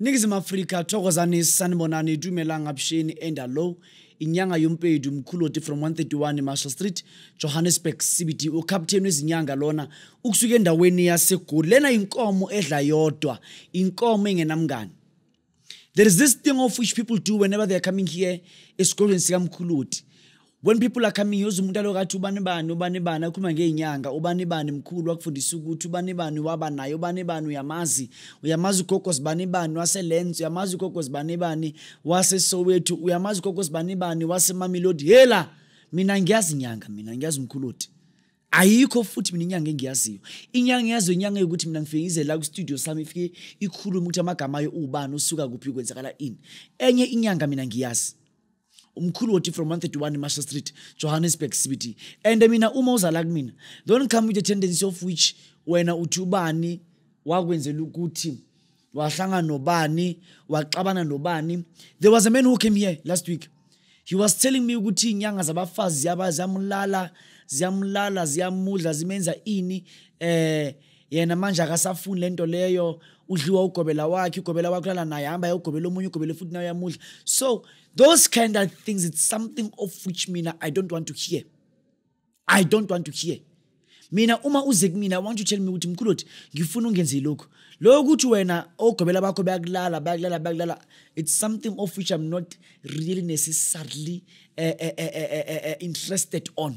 Ningizimu Afrika thokozani sanibonani dumelang absheni enda low inyanga yompedi umkhuloti from 131 Marshall Street Johannesburg CBD ucaptain wezinyanga lona ukusuka endaweni yaseGoli lena inkomo edla yodwa inkomo engenamngani There is this thing of which people do whenever they are coming here esikolweni sikamkhuloti when people are coming yoze umuntu aloku athi ubani bani ubani bani akhuluma ngey'nyanga ubani bani mkhulu wakufundisa ukuthi ubani bani waba naye ubani bani uyamazi uyamazi ugogo zibani bani waselenz uyamazi ugogo zibani bani wasesowethu uyamazi ugogo zibani bani wasemamelodi hela mina ngiyazi nyanga mina ngiyazi umkhuloti ayikho futhi mina inyanga engiyaziyo inyanga yazo inyanga yokuthi mina ngifike ngize la kwistudio sami ifike ikhulume ukuthi amagama ayo ubani usuka kuphi kwenzakala ini enye inyanga mina ngiyazi umkhulu woti from 131 marshall street johannesburg cbt and mina uma uzala kumina don't come with the tendency of which wena uthi ubani wakwenzela ukuthi wahlangana nobani waxabana nobani there was a man who came here last week he was telling me ukuthi inyanga zabafazi ziyaba ziyamlala ziyamlala ziyamudla zimenza ini eh yena manje akasafuni lento leyo udliwa ugobela wakhe ugobela wakhe lala naye hamba ayogobela omunye ugobele futhi naye uyamudla so those kind of things it's something of which mina i don't want to hear i don't want to hear mina uma uze kumina want to tell me ukuthi mkhuloti ngifuna ungenze lokhu lokho ukuthi wena ogobela bakho bayakulala bayakulala bayakulala it's something of which i'm not really necessarily uh, uh, uh, uh, uh, interested on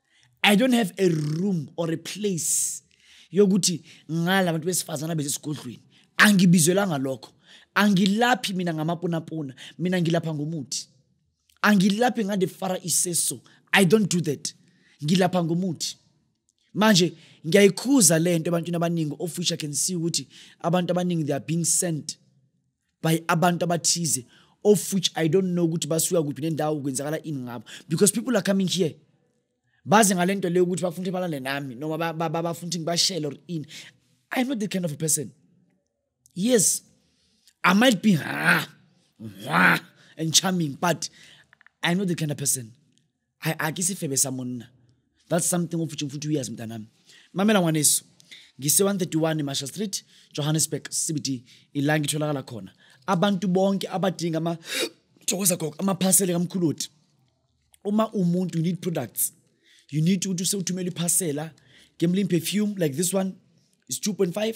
i don't have a room or a place yokuthi ngala bantu besifazana besesigodlweni angibizelwanga lokho angilaphi mina ngamapunapuna mina ngilapha ngomuthi angilaphi ngade fara iseso i don't do that ngilapha ngomuthi manje ngiyayikhuza le nto ebantwini abaningi ofisha can see ukuthi abantu abaningi they are being sent by abantu abathize of which i don't know ukuthi basuka kuphi nendawo kwenzakala ini ngabo because people are coming here baze ngale nto leyo ukuthi bafuna ukuthi balale nami noma bafuna ukuthi ngibashele or ini i'm not the kind of a person yes i might be ha, ha, and charming but i'm not the kind of person I a ke sefebe sa monna that's something o futseng futhi uyazi mntanami mamela ngwaneso ngise-131 marshall street johannesburg cbt ila ngitholakala khona abantu bonke abadinga ama thokoza gogo amaphasele kamkhuloti uma umuntu you need products you need ukuthi usewuthumela iphasela gemlin perfume like this one is 2.5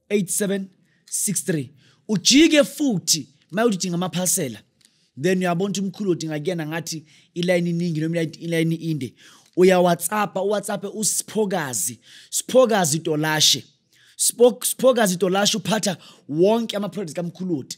8763 ujike futhi mayuthi udinga amaphasela then uyabona ukuthi umkhulu odinga kuyena ngathi ilayini iningi noma ilayini inde uyawhatsappa uwhatsappe usiphokazi siphokazi dolashe siphokazi dolashe uphatha wonke ama-products kamkhuludi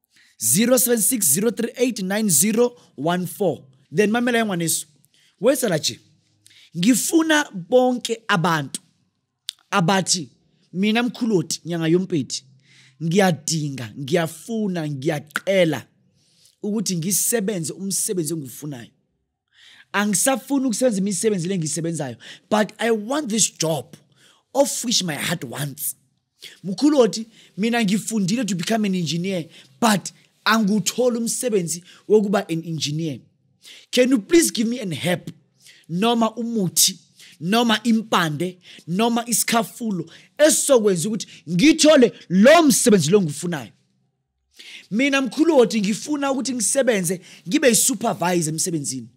0760389014 then mamela yengwaneso wesala nje ngifuna bonke abantu abathi mina mkhuloti nyanga yompeti ngiyadinga ngiyafuna ngiyaqela ukuthi ngisebenze umsebenzi engiwufunayo angisafuni ukusebenza imisebenzi le ngiyisebenzayo but i want this job of which my heart wants mkhulu othi mina ngifundile to become an engineer but angiwutholi umsebenzi wokuba an engineer can you please give me an help noma umuthi noma impande noma isikhafulo esizokwenza ukuthi ngithole lo msebenzi lo ngiwufunayo mina mkhuloti ngifuna ukuthi ngisebenze ngibe yisupervisor emsebenzini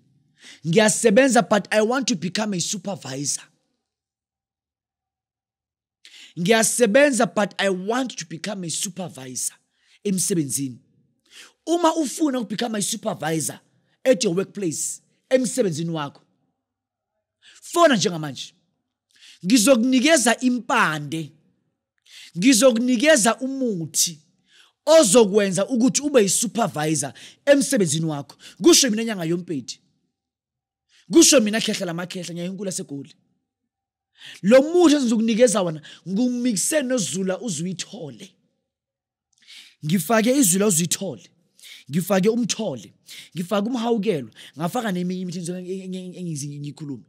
ngiyasebenza but i want to become a supervisor ngiyasebenza but i want to become a supervisor emsebenzini uma ufuna ukubecome a supervisor at your workplace emsebenzini wakho fona njengamanje ngizokunikeza impande ngizokunikeza umuthi ozokwenza ukuthi ube yisupervisor emsebenzini wakho kusho mina nyanga yompedi kusho mina khehla lamakhehla nyanga yonkulu asegoli lo muthi engizokunikeza wona ngumikise nozula uzuyithole ngifake izwi la uzithole ngifake umthole ngifake umhawukelo ngafaka neminye imithi engize ngiyikhulume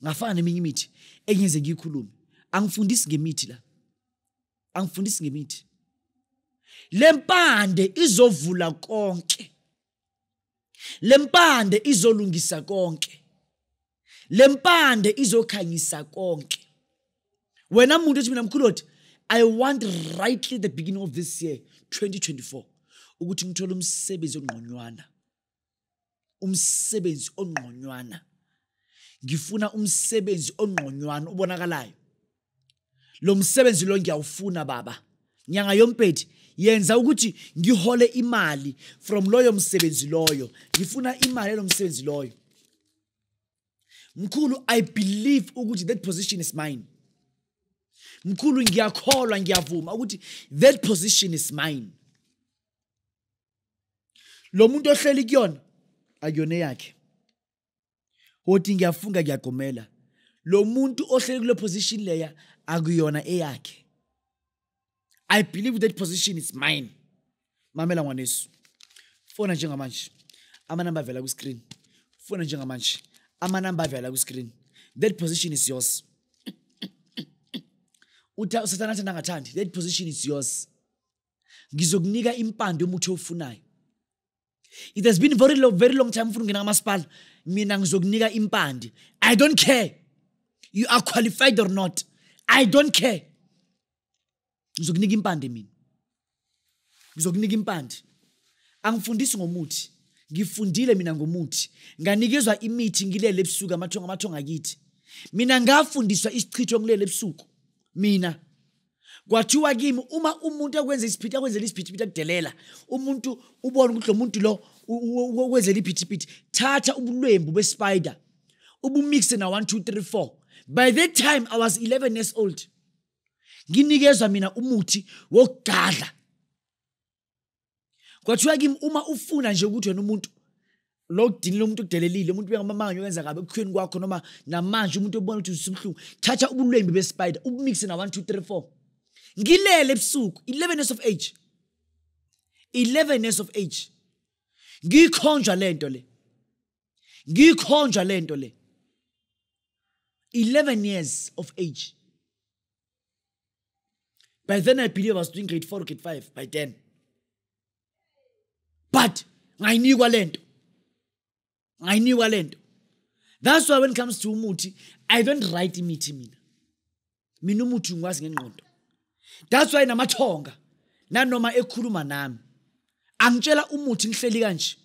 ngafaka neminye imithi engize ngiyikhulume angifundisi ngemithi la angifundisi ngemithi lempande izovula konke le mpande izolungisa konke le mpande izokhanyisa konke wena muntu ethi mina mkhulu othi i want rightly the beginning of this year 2024 ukuthi ngithole umsebenzi ongqonywana umsebenzi ongqonywana ngifuna umsebenzi ongqonywana ubonakalayo lo msebenzi lo ngiyawufuna baba nyanga yompedi yenza ukuthi ngihole imali from loyo msebenzi loyo ngifuna imali yalo msebenzi loyo mkhulu i believe ukuthi that position is mine mkhulu ngiyakholwa ngiyavuma ukuthi that position is mine lo muntu ohleli kuyona akuyona yakhe wothi ngiyafunga ngiyagqumela lo muntu ohleli kule position leya akuyona eyakhe i believe that position is mine mamela ngwanesu fona njengamanje amanamba avela kwiscreen fona njengamanje amanamba avela kwiscreen that position is yours usathana athanda angathandi that position is yours ngizokunika impande umuthi owufunayo it has been very long, very long time ufuna ungena kamasipala mina ngizokunika impande i don't care you are qualified or not i don't care ngizokunika impande mina ngizokunika impande angifundisi ngomuthi ngifundile mina ngomuthi nganikezwa imithi ngilele ebusuku amathonga amathonga kithi mina ngafundiswa isichitho ngilele ebusuku mina kwathiwa kimi uma umuntu akwenza isiphithiphithi akwenzela isiphithiphithi akudelela umuntu ubona ukuthi lo muntu lo ukwenzela iphithiphithi thatha ubulwembu bespider ubumixe na 1 2 3 4 by that time i was 11 years old nginikezwa mina umuthi wokugadla kwathiwa kimi uma ufuna nje ukuthi wena umuntu lo kudinile umuntu udelelile umuntu uyangamamanga okwenza kabi ekukhweni kwakho noma namanje umuntu obona ukuthi usubuhlungu thatha ubulwembi bespider ubumixe na 1 2 3 4 ngilele ebusuku 11 years of age 11 years of age ngikhonjwa lento le ngikhonjwa lento le 11 years of age by then i believe i was doing grade four grade five by then but ngayinikwa le nto ngayinikwa le nto that's why when it comes to umuthi i don't write imithi mina mina umuthi ngikwazi ngengqondo that's why namathonga nanoma ekhuluma nami angitshela umuthi ngihleli kanje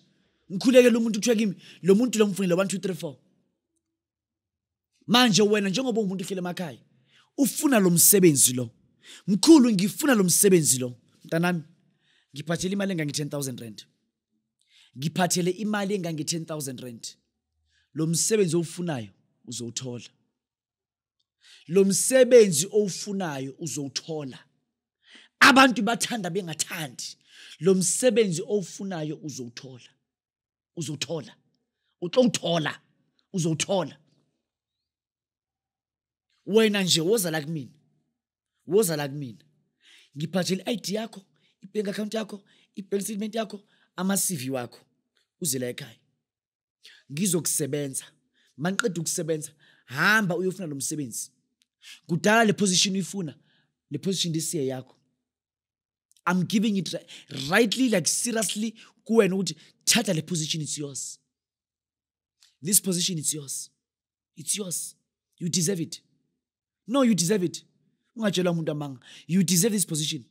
ngikhulekela umuntu kuthiwa kimi lo muntu lo mfunile 1 2 3 4 manje wena njengoba umuntu uhlele emakhaya ufuna lo msebenzi lo mkhulu ngifuna lo msebenzi lo mntanami ngiphathele imali engange-10 000 rand ngiphathele imali engange-10 000 rand lo msebenzi owufunayo uzowuthola lo msebenzi owufunayo uzowuthola abantu bathanda bengathandi lo msebenzi owufunayo uzowuthola uzothola utlongithola uzothola wena nje woza la kumina woza la kumina ngiphathele i-id yakho i-bank account yakho i-bank statement yakho ama-cv wakho uze la ekhaya ngizokusebenza maniqeda ukusebenza hamba uyofuna lo msebenzi kudala le position uyifuna le position lisiye yakho i'm giving it rightly like seriously kuwena ukuthi thatha le position it's yours this position it's yours it's yours you deserve it no you deserve it ungatshelwa umuntu amanga you deserve this position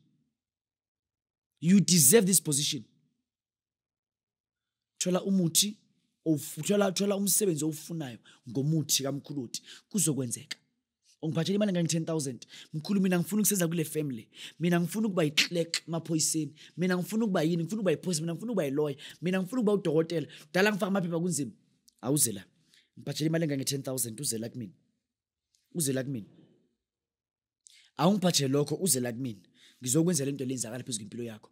you deserve this position thola umuthi thola thola umsebenzi owufunayo ngomuthi kamkhuluthi kuzokwenzeka ungiphathela imali engange-ten thousand mkhulu mina ngifuna ukuseza kule family mina ngifuna ukuba yi-clerk emaphoyiseni mina ngifuna ukuba yini ngifuna ukuba yiphoyisa mina ngifuna ukuba yiloya mina ngifuna ukuba udokotela dala ngifaka amaphepha kunzima awuze la ngiphathela imali engange-ten thousand uze la kumina uze la kumina awungiphathele lokho uze la kumina ngizokwenzela into lenzakala phezu kwempilo yakho